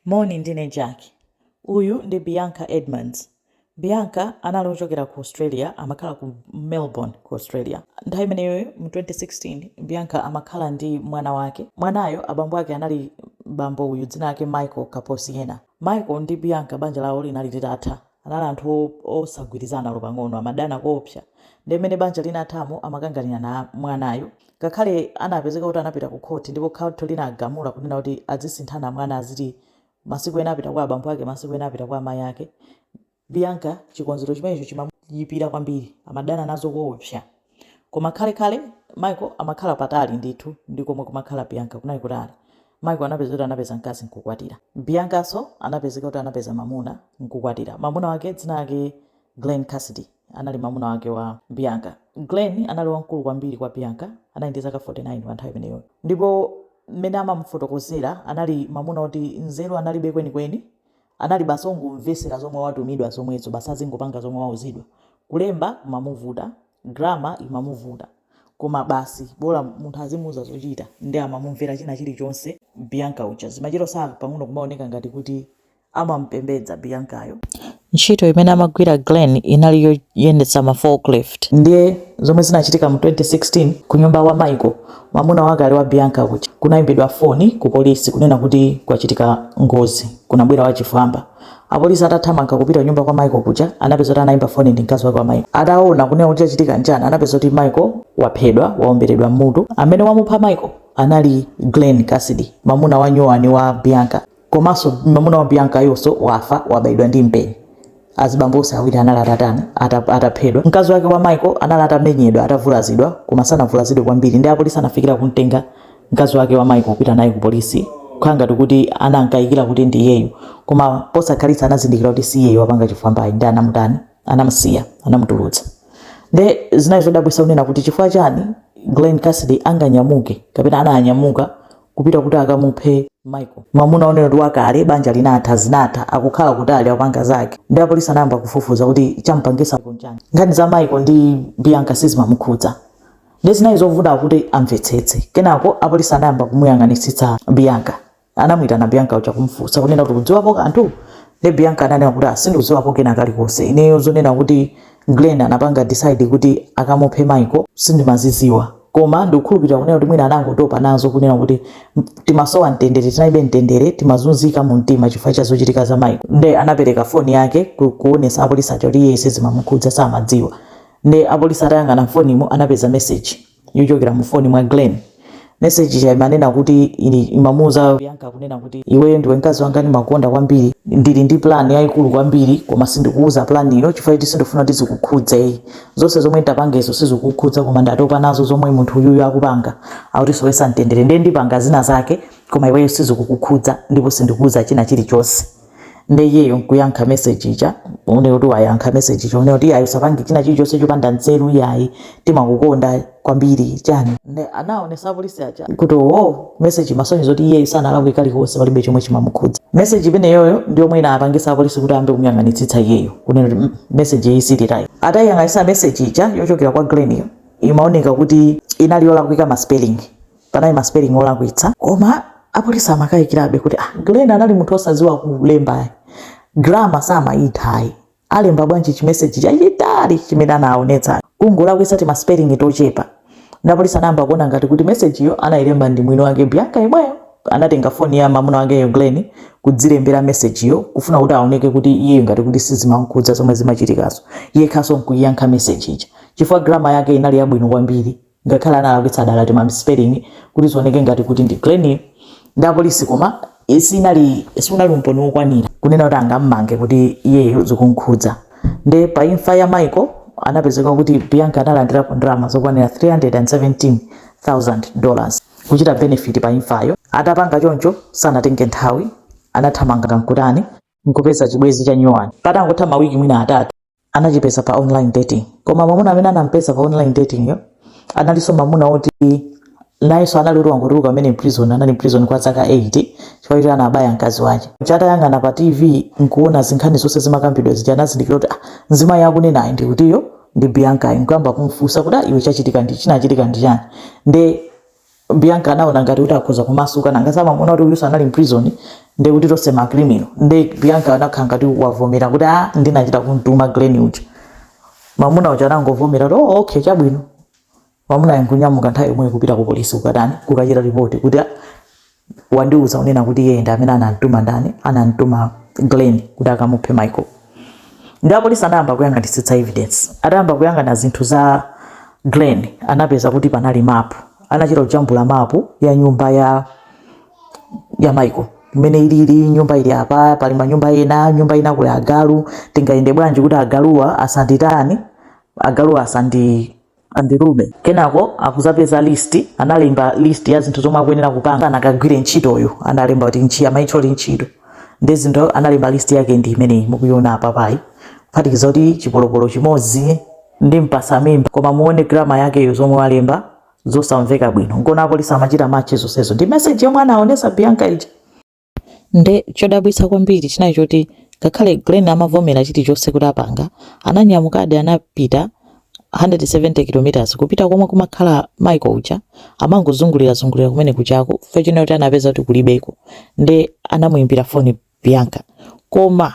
Moni, ndine Jack. Uyu ndi Bianca Edmunds. Bianca anali ochokera ku Australia, amakhala ku Melbourne, ku Australia. Nthawi imeneyoyo, mu 2016, Bianca amakhala ndi mwana wake. Mwanayo abambo ake anali bambo uyu, dzina lake Michael Caposiena. Michael ndi Bianca banja lawo linali litatha. Anali anthu osagwirizana olo pang'ono, amadana koopsa. Ndiye mmene banja linathamo amakanganirana mwanayo. Ngakhale anapezeka kuti anapita ku khoti ndipo khoti linagamula kunena kuti azisinthana mwana aziti masiku ena apita kwa abambo ake masiku ena apita kwa amayi ake, Bianca chikonzero chimenecho chimamuyipira kwambiri, amadana nazo koopsa. Koma khalekhale, Michael amakhala patali ndithu ndi komwe kumakhala Bianca. Kunali kutali. Michael anapezeka kuti anapeza mkazi n'kukwatira. Biancanso anapezeka kuti anapeza mamuna n'kukwatira. Mamuna wake dzina lake Glen Cassidy anali mamuna wake wa Bianca. Glen anali wamkulu kwambiri kwa Bianca. Anali ndi zaka 49 panthawi imeneyo ndipo mmene amamufotokozera anali mamuna oti nzeru analibe kweni kweni. Anali basi ongomvesera zomwe watumidwa zomwezo basi azingopanga zomwe wauzidwa. Kulemba kumamuvuta, grammar imamuvuta koma basi bola munthu azimuuza zochita nde amamumvera china chilichonse. Bianca uja zimachita saa pang'ono kumaoneka ngati kuti amamupembedza Biancayo. Ntchito imene amagwira Glen inali yoyendetsa ma forklift. Ndiye zomwe zinachitika mu 2016 kunyumba kwa Michael Mamuna wakale wa Bianca kuja, Kunaimbidwa foni kupolisi kunena kuti kwachitika ngozi. Kunabwera wachifwamba. Apolisi atathamanga kupita kunyumba kwa Michael kuja, anapeza kuti anaimba foni ndi mkazi wake wa Michael. Ataona kunena kuti chachitika n'chani, anapeza kuti Michael waphedwa, waomberedwa m'mutu. Amene wamupha Michael anali Glen Cassidy, mamuna wanyuwani wa Bianca. komanso mamuna wa biancayonso wafa wabayidwa ndi mpeni azibambo onse awiri anali atatani ataphedwa mkazi wake wa michael anali atamenyedwa atavulazidwa koma sanavulazidwe kwambiri ndi apolisi anafikira kumtenga mkazi wake wa michael kupita naye ku polisi kukhala ngati kuti anankayikira kuti ndi iyeyo koma posakhalitsa anazindikira kuti si iyeyo wapanga chifwambachi ndi anamutani anamusiya anamutulutsa nde zinali zodabwisa kunena kuti chifukwa chani glen cassidy anganyamuke kapena ananyamuka kupita kuti akamuphe Michael. Mamuna wonena kuti wakale banja linatha zinatha akukhala kutali akupanga zake. Ndi apolisi anayamba kufufuza kuti chamupangisa n'chani. Nkhani za Michael ndi Bianca sizimamukhudza. Ndi zinali zovuta kuti amvetsetse. Kenako apolisi anayamba kumuyang'anitsitsa Bianca. Anamuyitana Bianca uja kumufunsa kunena kuti ukudziwapo kanthu? Ndi Bianca ananena kuti ah sindidziwapo kena kalikonse. Ineyo zonena kuti Glen anapanga decide kuti akamuphe Michael, sindimaziziwa koma ndikukhulupilira kunena kuti mwina anangotopa nazo kunena kuti timasowa mtendere tinalibe mtendere timazunzika mu mtima chifukwa cha zochitika za Michael nde anapeleka phone yake kuonesa apolice aja kuti iyeyo sizimamukhudza samadziwa nde apolice atayang'ana mphonemo anapeza message yochokera mu foni mwa Glen. Meseji ija imanena kuti imamuuza Bianca kunena kuti iweyo ndiwe mkazi wanga ndimakukonda kwambiri, ndili ndi plan yayikulu kwambiri koma sindikuuza plan yo chifukwa choti sindikufuna kuti zikukhudze. Zonse zomwe ndapangezo sizikukhudza koma ndatopa nazo zomwe munthu uyuyu akupanga, akutisowetsa mtendere ndiye ndipanga zina zake koma iweyo sizikukukhudza ndipo sindikuuza china chilichonse. nde iyeyo nkuyankha message ija kunena kuti wayankha message ija kunena kuti yayi usapange china chilichonse chopanda nzeru yayi timakukonda kwambiri chani nde anaonesa apolisi aja kuti owo message imasonyeza kuti iyeyo sanalakwe kalikonse palibe chomwe chimamukhudza message imeneyoyo ndi yomwe inapangisa apolisi kuti ayambe kumuyang'anitsitsa iyeyo kunena kuti "Mm, message iyi silithayi atayiyang'anitsa message ija yochokera kwa Glen iyo imaoneka kuti inali yolakwika ma spelling panali ma spelling olakwitsa koma apolisi amakayikirabe kuti ah, Glen anali munthu osadziwa kulemba grama samayithayi alemba bwanji chimeseji chachitali chimene anaonetsa kungolakwitsa ti ma spelling tochepa nde apolisi anayamba kuona ngati kuti mesejiyo anayilemba ndi mwini wake Bianca yemweyo anatenga foni ya mamuna wakeyo Glen kudzilembera mesejiyo kufuna kuti aoneke kuti iye ngati kuti sizimamkhudza zomwe zimachitikazo yekhaso nkuyiyankha meseji ija chifukwa grama yake inali yabwino kwambiri ngakhale analakwitsa dala tima spelling kuti zioneke ngati kuti ndi Glen iyo nde apolisi koma sinali sunali umboni wokwanira kunena kuti angammange kuti iyeyo zikumkhudza nde pa imfa ya michael anapezeka kuti bianca analandirapo ndalama zokwanira 317000 dollars kuchita benefit pa imfayo atapanga choncho sanatenge nthawi anathamanga kaya nkutani nkupeza chibwezi cha nyuwani patangotha mawiki mwina atatu anachipeza pa online dating koma mwamuna amene anampeza pa online dating yo analinso mwamuna woti nayenso anali kuti wangotuluka kumene mprison anali mprison kwa zaka 8 chifukwa choti anabaya mkazi wake chatayang'ana pa tv nkuona zinkhani zonse zimakambidwa zija anazindikira kuti ah, mzimayi akunena ndi kutiyo ndi bianca nkuyamba kumfunsa kuti "Ah, iwe chachitika ndi chinachitika ndi chani nde Bianca anaona ngati kuti akhoza kumasuka nanga si mamuna kuti uyuso anali mprison nde kuti tonse ma criminal nde Bianca anakhala ngati wavomera kuti a ndinachita kumtuma Glen uja mamuna uja anangovomera kuti oh okay chabwino mamuna uja nkunyamuka nthawi yomwe kupita ku polisi kukatani kukachita report kuti wandiuza kunena kuti iye ndi amene anamtuma ndani anamtuma glen kuti akamuphe michael nde apolisi anayamba kuyang'anitsitsa evidence atayamba kuyang'ana zinthu za glen anapeza kuti panali mapu anachita kujambula mapu ya nyumba ya ya michael mmene ilili nyumba ili apa pali manyumba ena nyumba ina kuli agalu tingayende bwanji kuti agaluwa asanditani agaluwa asandi andilume kenako akudzapeza list analemba list ya zinthu zomwe akuyenera kupanga akakagwire ntchitoyo analemba kuti ntchito amaitcholi ntchito ndi zinthu analemba list yake ndi imeneyi mukuiona apapa kuphatikiza kuti chipolopolo chimodzi ndi mpatsa mimba koma muone grama yakeyo zomwe analemba zosamveka bwino nkona apolisi amachita match zonsezo ndi message yomwe anaonesa bianca ija Nde chodabwitsa kwambiri chinali choti ngakhale Glen amavomera chilichonse kuti apanga, ananyamukadi anapita 170 kilometers kupita komwe kumakhala Michael uja, amangozungulira zungulira kumene kujako chifukwa chonena kuti anapeza kuti kulibeko nde anamuimbira foni Bianca koma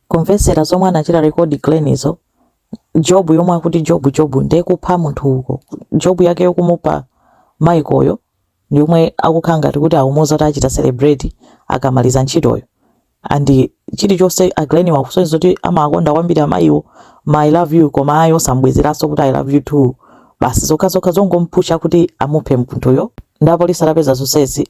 Kumvetsera zomwe anachita record Glen izo job yomwe akuti job job nde kupha munthu uko job yake yokamupha Michael yo yomwe akukhala ngati kuti akumuuza kuti achita celebrate akamaliza ntchitoyo and chilichonse a Glen akusonyeza kuti amawakonda kwambiri amayiwo ma I love you koma iwo osambwezeranso kuti I love you too basi zokhazokha zongompusha kuti amuphe munthuyo nde apolisi atapeza zonsezi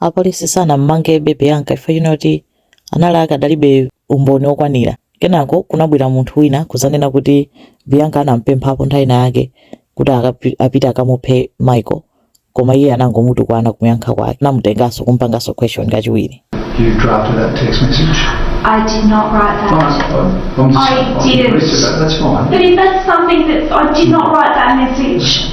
Apolisi sanam'mangebe Bianca chifukwa chonena kuti anali akadalibe umboni wokwanira. Kenako kunabwera munthu wina kudzanena kuti Bianca anam'pemphapo nthawi inayake kuti apite akamuphe Michael koma iye anangomutukwana pomuyankha kwake anamutenganso kumupanganso question kachiwiri. You drafted that text message? I did not write that. Fine, well, I'm just, I, I didn't. That, that's fine. But if that's something that I did not write that message.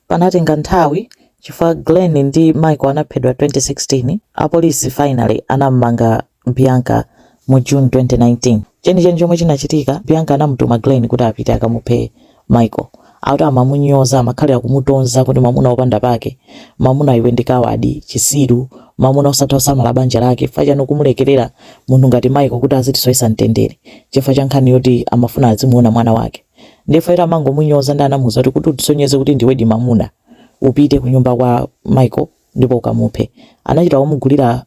Panatenga nthawi chifukwa Glen ndi Michael anaphedwa 2016, apolisi finally anam'manga Bianca mu June 2019. Chenicheni chomwe chinachitika, Bianca anamutuma Glen kuti apite akamuphe Michael. Akuti amamunyoza, amakhalira kumutonza kuti mwamuna opanda pake, mwamuna iwe ndi kawadi, chisiru, mwamuna osatha kusamala banja lake, chifukwa chani ukumulekerera munthu ngati Michael kuti azitisowetsa mtendere chifukwa cha nkhani yoti amafuna azimuona mwana wake. Nde amangomunyoza nde anamuuza kuti kuti utisonyeze kuti ndiwedi mamuna upite kunyumba kwa Michael ndipo ukamuphe. Anachita kumugulira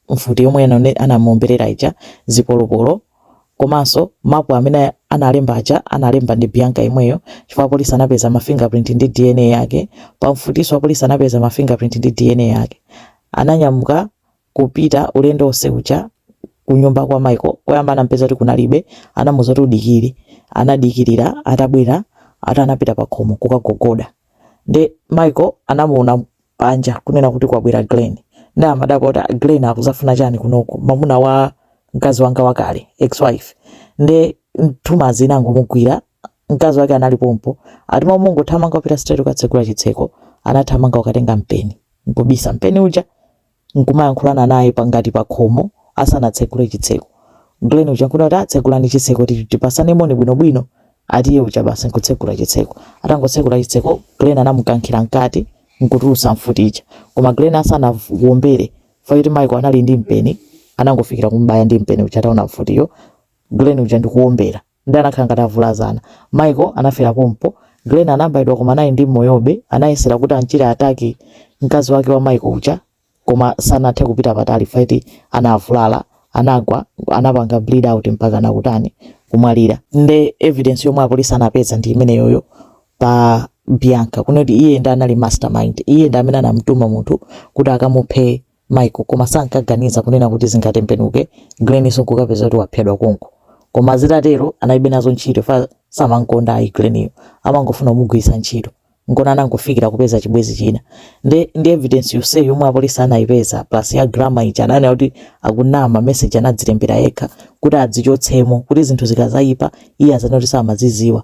mfuti yomwe anane- anamuomberera ija, zipolopolo komanso mapu amene analemba aja analemba ndi Bianca yemweyo chifukwa apolisi anapeza ma fingerprint ndi DNA yake. Pa mfutinso apolisi anapeza ma fingerprint ndi DNA yake. Ananyamuka kupita ulendo onse uja kunyumba kwa Michael koyamba anampeza kuti kunalibe anamuza kuti udikire anadikira atabwera ati anapita pa khomo kukagogoda nde Michael anamuona panja kunena kuti kwabwera Glen nde amadabwa kuti "Ah, Glen akudzafuna chani kunoko mamuna wa mkazi wanga wakale ex wife nde nthumanzi inangomugwira mkazi wake anali pompo ati m'malo mongothamanga kupita straight kukatsegula chitseko anathamanga kukatenga mpeni nkubisa mpeni uja nkumayankhulana naye pa ngati pakhomo asanatsegule chitseko. Glen uja nkunena kuti, ah tsegulani chitseko ti tipasane moni bwino bwino atiye uja basi nkutsegula chitseko. Atangotsekula chitseko Glen anamukankhira mkati nkutulutsa mfuti ija. Koma Glen asanawombere chifukwa choti Michael anali ndi mpeni anangofikira kumubaya ndi mpeni uja ataona mfutiyo Glen uja ndikuwombera. Nde anakhala ngati avulazana. Michael anafera pompo. Glen anabaidwa koma anali ndi moyobe. Anayesera kuti amchite attack mkazi wake wa Michael uja koma sanathe kupita patali chifukwa choti anavulala, anagwa, anapanga bleed out mpakana kutani, kumwalira. Nde evidence yomwe apolisi anapeza ndi imeneyoyo pa Bianca kunoti iye nde anali mastermind, iye ndi amene anamutuma munthu kuti akamuphe Michael, koma sankaganiza kunena kuti zingatembenuke, Glen uja nkukapeza kuti waphedwa konko. Koma zitatero analibe nazo ntchito chifukwa samamkonda ayi Glen-yo, amangofuna kumugwiritsa ntchito. Nkona anangofikira kupeza chibwezi china. Nde ndi evidence yonseyi yomwe apolisi anayipeza plus ya Grammar ija ananena kuti akunama, message anadzilembera yekha kuti adzichotsemo kuti zinthu zikazayipa iye azanene kuti samaziziwa.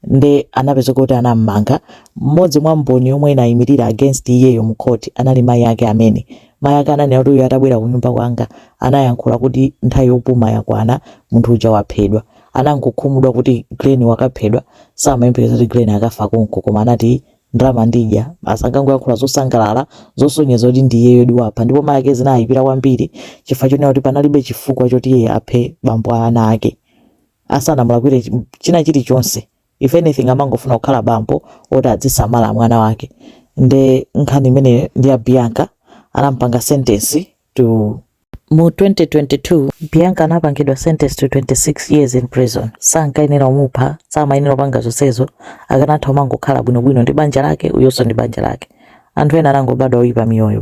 nde anapezeka kuti anam'manga. M'modzi mwa mboni yomwe inayimilira against iyeyo mu court anali mayi ake amene. Mayi ake ananena kuti uyu atabwera kunyumba kwanga anayankhula kuti nthawi yopuma yakwana munthu uja waphedwa. Anangokhumudwa kuti Glen wakaphedwa samayembekeza kuti Glen akafa konko koma anati ndalama ndidya basi ankangoyankhula zosangalala zosonyeza kuti ndi iyeyodi wapha ndipo mayi ake zinawayipira kwambiri chifukwa chonena kuti panalibe chifukwa choti iye aphe bambo a ana ake. asanamulakwire chi- china chilichonse if anything amangofuna kukhala bambo oti adzisamala mwana wake nde nkhani imeneyo ndi ya bianca anampanga sentence to mu 2022 bianca anapangidwa sentence to 26 years in prison sankayenera omupha samayenera opanga zonsezo akanatha omangokhala bwinobwino ndi banja lake uyonso ndi banja lake anthu ena anangobadwa oyipa miyoyo